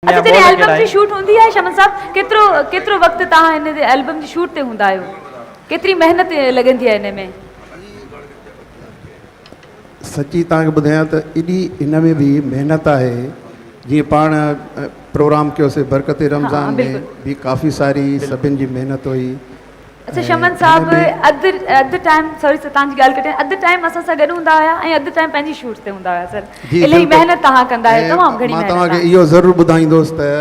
اچا جڏهن البم جي شوٽ هوندي آهي شمن صاحب ڪيترو ڪيترو وقت توهان هن البم جي شوٽ تي هوندا آهيو ڪيتري محنت لڳندي آهي هن ۾. سچي توهان کي ٻڌايان ته ايڏي هن ۾ به محنت آهي جيئن پاڻ پروگرام ڪيوسي برڪت رمضان ۾ به ڪافي ساري سڀن جي محنت هئي. شمن صاحب اڌ اڌ ٽائيم سوري سر تنهنجي ڳالهه ڪٽيان اڌ ٽائيم اسان سان گڏ هوندا هيا ۽ اڌ ٽائيم پنهنجي شوٽ تي هوندا هيا سر الائي محنت توهان ڪندا آهيو تمام گهڻي محنت مان توهان کي اهو ضرور ٻڌائيندوس ته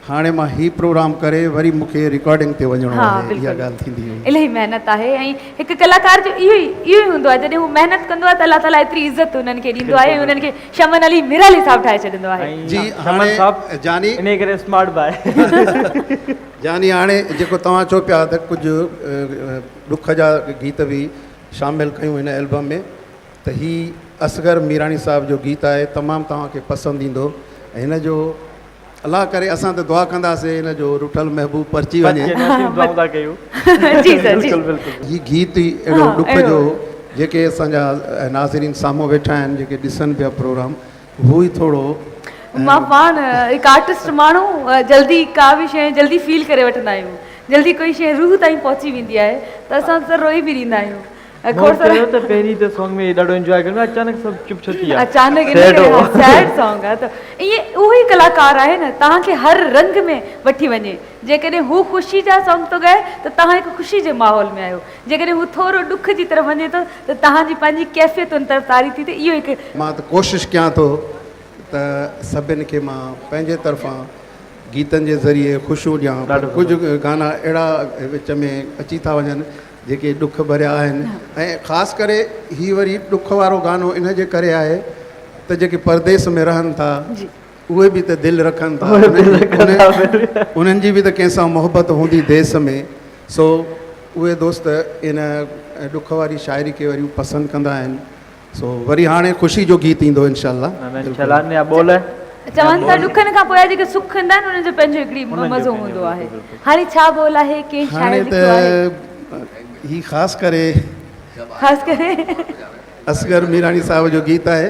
هاڻي مان هي پروگرام ڪري وري مون کي رڪارڊنگ تي وڃڻو آهي اها ڳالهه ٿيندي هئي الائي محنت آهي ۽ هڪ ڪلاڪار جو اهو ئي اهو ئي هوندو آهي جڏهن هو محنت ڪندو آهي ته الله تعالي ايتري عزت انهن کي ڏيندو آهي ۽ انهن کي شمن علي ميرالي صاحب ٺاهي ڇڏيندو آهي جي هاڻي جاني انهي ڪري اسمارٽ باء يعني هاڻي جيڪو توهان چئو پيا ته ڪجهه ڏک جا گيت به شامل ڪيون هن البم ۾ ته هي اصغر ميراڻي صاحب جو گيت آهي تمام توهان کي پسند ايندو ۽ هن جو الله ڪري اسان ته دعا ڪنداسين هن جو رٺل محبوب پرچي وڃي دعائون ٿا ڪيون جي سر جي بلڪل بلڪل هي گيت ئي اهڙو ڏک جو هو جيڪي اسان جا ناظرين سامهون ويٺا آهن جيڪي ڏسن پيا پروگرام هو ئي ٿورو مان پاڻ هڪ آرٽسٽ ماڻهو جلدي ڪا به شيء جلدي فيل ڪري وٺندا آهيون جلدي ڪوئي شيء روح تائين پهچي ويندي آهي ته اسان ته روئي به ڏيندا آهيون کور سر چيو ته پهرين ته سانگ ۾ ڏاڍو انجوائي ڪريو اچانڪ سڀ چپ ڇو ٿي ويا اچانڪ ان ڪري سيڊ سانگ آهي ته ائين اهو ئي ڪلاڪار آهي نه توهان کي هر رنگ ۾ وٺي وڃي جيڪڏهن هو خوشي جا سانگ ٿو ڳائي ته توهان هڪ خوشي جي ماحول ۾ آهيو جيڪڏهن هو ٿورو ڏک جي طرف وڃي ٿو ته توهان جي پنهنجي ڪيفيت ان طرف طاري ٿي ته اهو هڪ. مان ته ڪوشش ڪيان ٿو ته سڀن کي مان پنهنجي طرفان گيتن جي ذريعي خوشيون ڏيان پر ڪجهه گانا اهڙا وچ ۾ اچي ٿا وڃن جيڪي ڏک ڀريا آهن ۽ خاص ڪري هي وري ڏک وارو گانو ان جي ڪري آهي ته جيڪي پرديس ۾ رهن ٿا اهي به ته دل رکن ٿا. انهن جي به ته ڪنهن سان محبت هوندي ديس ۾. سو اهي دوست ان ڏک واري شاعري کي وري پسند ڪندا آهن. سو وري هاڻي خوشي جو گيت ايندو انشاء الله. چون ٿا ڏکن کان پوء جيڪي سک ايندا آهن انهن جو پنهنجو هڪڙي مزو هوندو آهي. هاڻي ڇا بول آهي ڪنهن شاعر لکيو آهي. هاڻي ته هي خاص ڪري اصغر ميراڻي صاحب جو گيت آهي.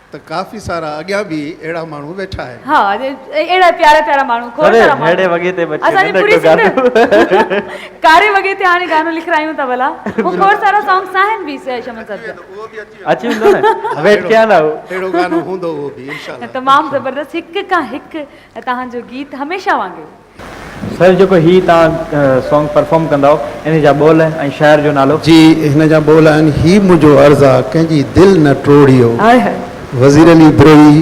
ته ڪافي سارا اڳيان به اهڙا ماڻهو ويٺا آهن. ها اهڙا پيارا پيارا ماڻهو کور سارا ماڻهو. ڪهڙي وڳي تي بچي اسان جي ننڍڙو پوري سنڌ گانو. ڪاري وڳي تي هاڻي گانو لکرايون ته ڀلا هو کور سارا سانگس آهن به سي شمن صاحب جا. اچي ويندو نه ويٽ ڪيان ٿا هو. اهڙو گانو هوندو اهو به انشاء الله. تمام زبردست هڪ کان هڪ توهان جو گيت هميشه وانگي. سر جيڪو هي توهان سانگ پرفارم ڪنداؤ انهي جا ٻول ۽ شاعر جو نالو. جي هن جا ٻول آهن هي منهنجو عرض آ ڪنهن جي دل نه ٽوڙيو. وزير علي بروهي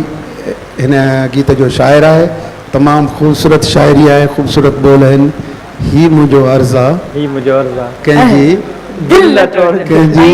هن گيت جو شاعر آهي تمام خوبصورت شاعري آهي خوبصورت ٻول آهن هي منهنجو عرض آ ڪنهن جي دل نه ٽوڙجي.